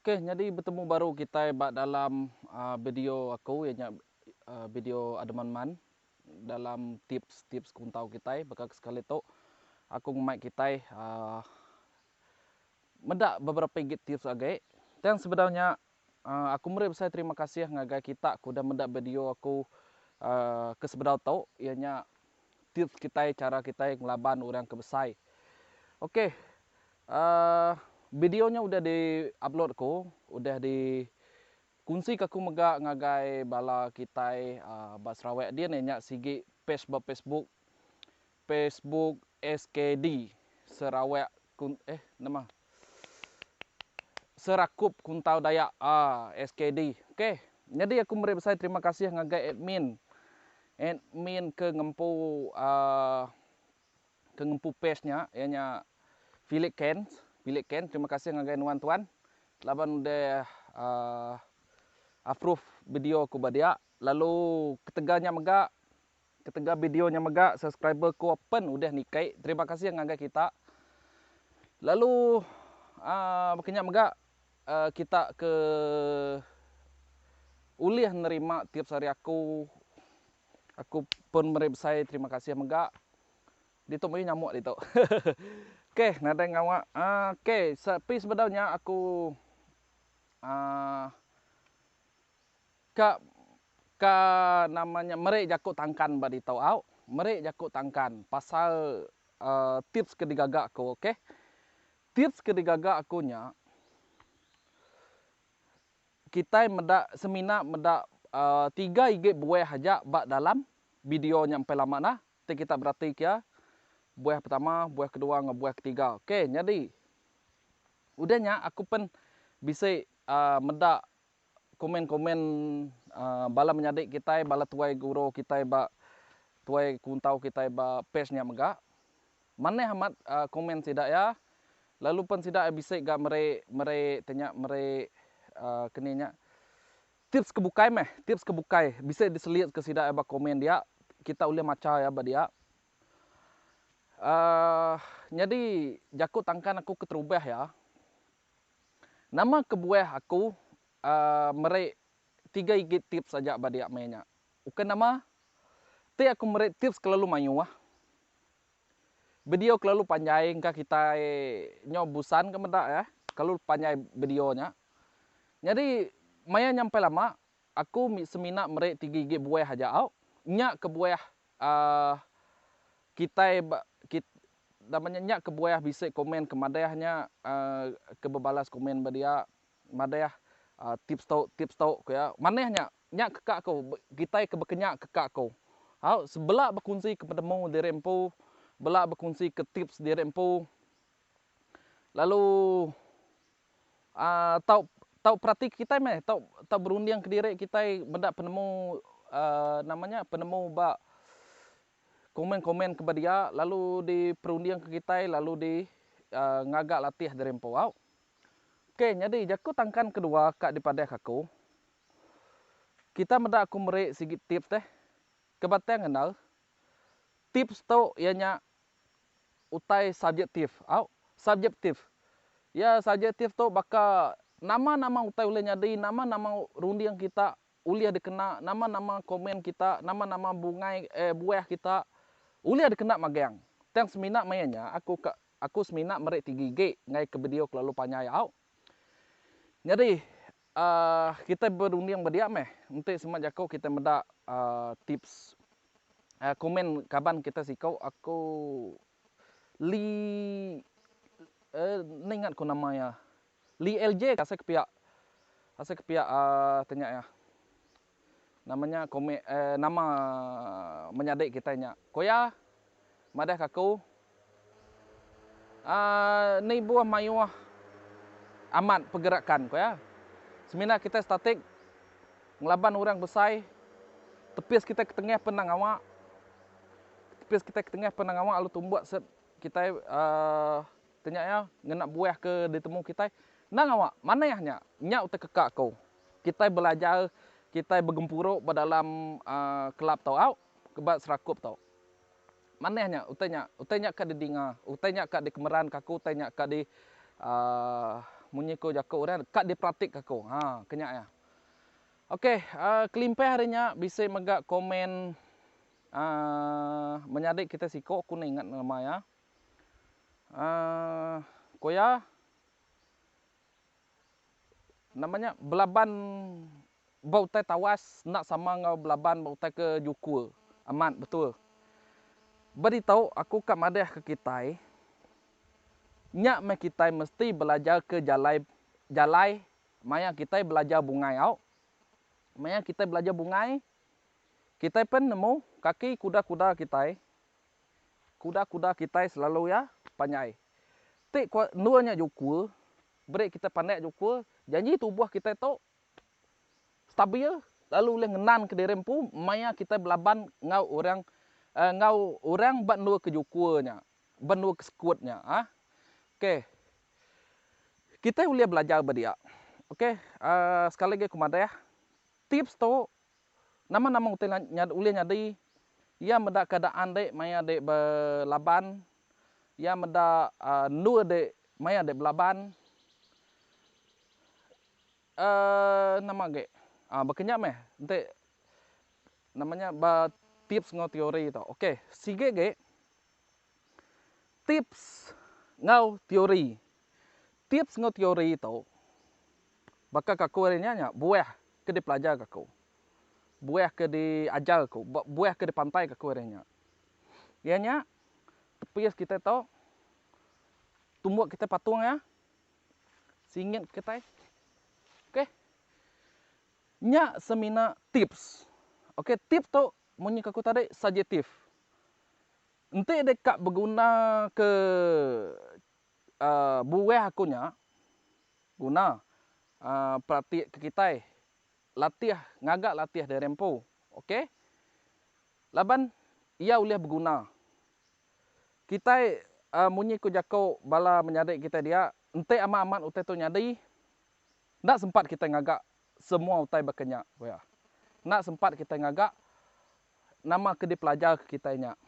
Okey nyadi betemu baru kitai ba dalam aaa video aku iya nya aaa video Ademanman dalam tips-tips kuntau kitai baka sekali tu aku ngemai kitai aaa meda beberapa igit tips agi. Thanks sebedau nya aku meri besai terima kasih ngagai kita ke udah meda video aku ke sebedau tu iya nya tips kitai chara kitai ngelaban orang ke besai. Ok uhh video nya udah di upload aku udah di kunsi ka aku mega ngagai bala kitai uhh ba Sarawak din iya nya sigi page ba Facebook Facebook SKD Sarawak kun eh nama Serakup Kuntau Dayak ah SKD ok nyadi aku meri besai terima kasih ngagai admin admin ke ngempu ah ke ngempu page nya iya nya Philip Ken Philip Ken terima kasih ngagai nuan tuan laban udah ah approve video aku ba dia lalu ketegal nya mega Ketegal video nya mega subscriber ko pen udah nikai terima kasih ngagai kita. Lalu aa baka nya mega aa kita ke ulih nerima tiap sehari aku aku pun meri besai terima kasih mega. Ditu meri nyamuk ditu. ok nadai ngawa aa ok sepi sebedau nya aku aa. ka ka nama nya meri jaku tangkan ba ditu au meri jaku tangkan pasal uhh tips ke digaga aku ok tips ke digaga aku nya kitai meda semina meda uhh tiga igi buah aja ba dalam video nya empai lama nah ti kita berati kia buah pertama buah kedua enggau buah ketiga ok nyadi udah nya aku pen bisi uhh meda. Komen-komen bala menyadi kitai, bala tuai guru kitai ba tuai kuntau kitai ba page nya mega. Manah amat komen sida iya lalu pen sida iya bisi ga meri meri ti nya meri aaa ke ni nya tips ke bukai meh, tips ke bukai bisi diselit ke sida iya ba komen dia kita ulih macha iya ba dia. Aaa nyadi jaku tangkan aku keterubah iya. Nama kebuah aku meri tiga igi tips aja ba dia meh nya. Ukai nama ti aku meri tips kelalu mayuh. Video kelalu panjai engka kitai nyau busan ka meda eh kelalu panjai video nya. Nyadi maya nyampai lama aku semina meri tiga igi buah aja au. Nya kebuah Aah kitai ba kit nama nya nya kebuah bisi komen ke madah nya aah ke bebalas komen ba dia madah aah tips tu tips tu ku iya manah nya nya ke ka ku kitai ke bekenya ke ka ku au sebela bekunsi ke penemu diri empu bela bekunsi ke tips diri empu lalu Tau tau peratika kitai meh tau tau berunding kediri kitai meda penemu nama nya penemu ba komen komen ke ba dia lalu di perunding ke kitai lalu di ngaga latih diri empu au. Ok nyadi jaku tangkan kedua ka dipadahka aku kita meda ku meri sigi tips eh ke batang enda tips tu iya nya utai subjektif au subjektif. Iya subjektif tu baka nama-nama utai ulih nyadi, nama-nama runding kita ulih dikena, nama-nama komen kita, nama-nama bungai eh buah kita ulih dikena magang. Tang semina maya nya aku ka aku semina meri tigigi ngaika video kelalu panjai au. Nyadi Ahh kitai berunding ba dia meh enti semak jaku kitai meda ahh tips ahh komen kaban kitai siko aku lee eh enda ingat ku nama iya lee lj ka asai ke pia asai ke pia ahh tanya iya. Nama nya komik eh nama menyadi kitai nya koya madahka aku ah nibuh mayuh amat pegerakan koya semina kitai statik ngelaban orang besai tepis kitai ketengah pen nang awak tepis kitai ketengah pen nang awak lalu tumbuk set kitai ah. Tenya iya, Ngena buah ke ditemu kitai? Endang awak, manah nya. Nya utai keka aku. Kitai belajar, kitai begempuru ba dalam kelab tu au, ba serakup tu. Manah nya utai nya. Utai nya ka didinga, utai nya ka dikemeranka aku, utai nya ka di munyi ku jaku orang, ka diperatika aku. Ha, ke nya iya. Ok, kelimpah ari nya bisi mega komen menyadi kitai siku, aku enda ingat nama iya. Aaa ko iya nama nya belaban ba utai tawas enda sama enggau belaban ba utai ke juku. Amat betul. Ba ditu aku ka madahka kitai nya meh kitai mesti belajarka jalai jalai maya kitai belajar bungai au. Maya kitai belajar bungai kitai pen nemu kaki kuda-kuda kitai. Kuda-kuda kitai selalu iya panyai. Ti ku endur nya juku beri kitai pandak juku janji tubuh kitai tu stabil lalu ulih ngenanka diri empu maya kitai belaban enggau orang enggau orang ba endurka juku nya, ba endurka sekut nya. Ok, kitai ulih belajar ba dia. Ok, sekali lagi aku madah, tips tu Nama-nama utai nya ulih nyadi, iya meda keadaan dek maya dek belaban, iya meda endur dek maya dek belaban, eh nama agi ah baka nya meh enti nama nya ba tips enggau teori tu. Ok sigi agi tips enggau teori. Tips enggau teori tu baka ke aku ari nya nya buah ke dipelajarka aku, buah ke diajar aku, ba buah ke dipantaika aku ari nya. Iya nya tepis kitai tu tumbuk kitai patung iya, singit kitai. Okey. Nya semina tips. Okey tips tu munyi ke aku tadi subjektif. Enti deka begunaka buah aku nya guna perati ke kitai latih ngaga latih diri empu ok laban ia ulih beguna kitai munyi ku jaku bala menyadi kitai dia enti amat amat utai tu nyadi enda sempat kitai ngaga semua utai baka nya wea enda sempat kitai ngaga nama ke dipelajar kitai nya.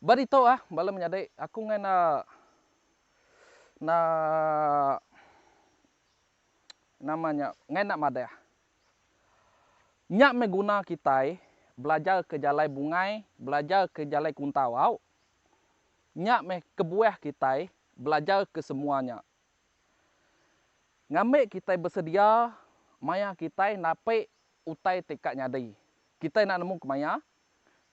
Ba ditu ah bala menyadi aku ngai enda enda nama nya ngai enda madah. Nya meh guna kitai belajar ke jalai bungai, belajar ke jalai kuntau au. Nya meh kebuah kitai belajar ke semua nya. Ngambi kitai besedia maya kitai napi utai ti ka nyadi. Kitai enda nemu kemaya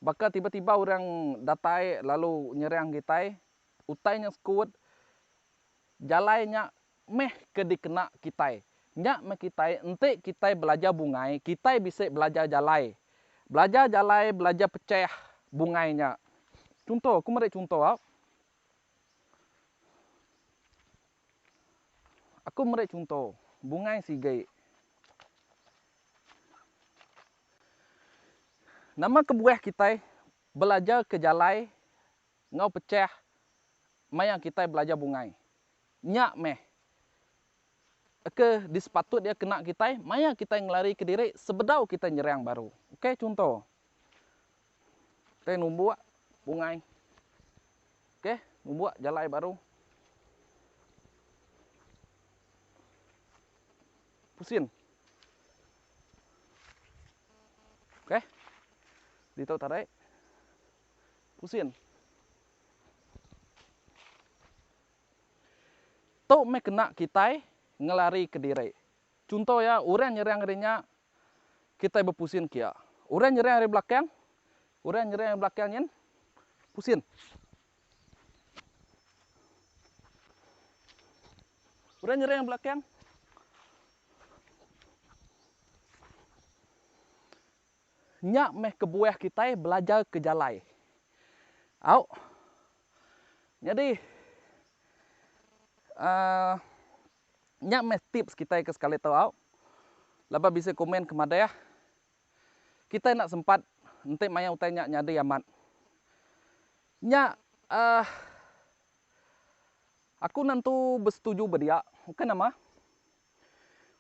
Baka tiba-tiba orang datai lalu nyerang kitai, utai nya sekut, jalai nya meh ke dikena kitai. Nya meh kitai, enti kitai belajar bungai, kitai bisi belajar jalai. Belajar jalai, belajar pechah bungai nya. Chunto, aku meri chunto. Aku meri chunto, bungai sigi. Nama kebuah kitai belajar ke jalai enggau pechah maya kitai belajar bungai? Nya meh ke disepatut iya kena kitai maya kitai ngelari kediri sebedau kitai nyerang baru. Ukai chunto. Kita numbuk bungai. Okey, numbuk jalai baru. Pusin. Okey. Ditu tarik. Pusin. Tu meh kena kitai ngelari kediri. Chunto iya, orang nyerang ari nya, kitai bepusin ke iya. Orang nyerang ari belakang, orang nyerang ari belakang nyin pusin. Orang nyerang ari belakang. Nya meh kebuah kitai belajar ke jalai. Au. Nyadi, uhh. Nya meh tips kitai ke sekali tu au. Laban bisi komen ke madah kitai enda sempat enti maya utai nya nyadi amat. Nya uhh aku nentu besetuju ba dia. Ukai nama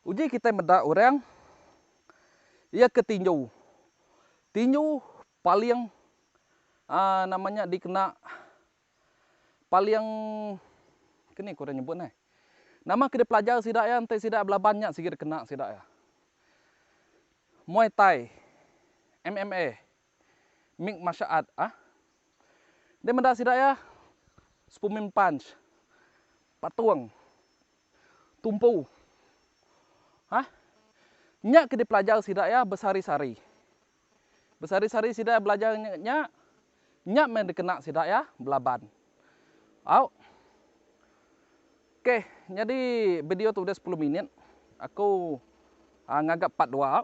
uji kitai meda orang iya ke tinju. Tinju paling uhh nama nya dikena Paling keni ku orang nyebut neh. Nama ke dipelajar sida iya enti sida belaban nya sigi dikena sida iya. Muay Thai, MMA, mix martial art ah. Nya meda sida iya Superman Punch, Patung, Tumpu ah. Nya ke dipelajar sida iya besehari-sehari. Besari-sari sida belajar nya, nya meh dikena sida iya belaban. Au. Okay, nyadi video tu udah sepuluh minit. Aku ngaga part dua.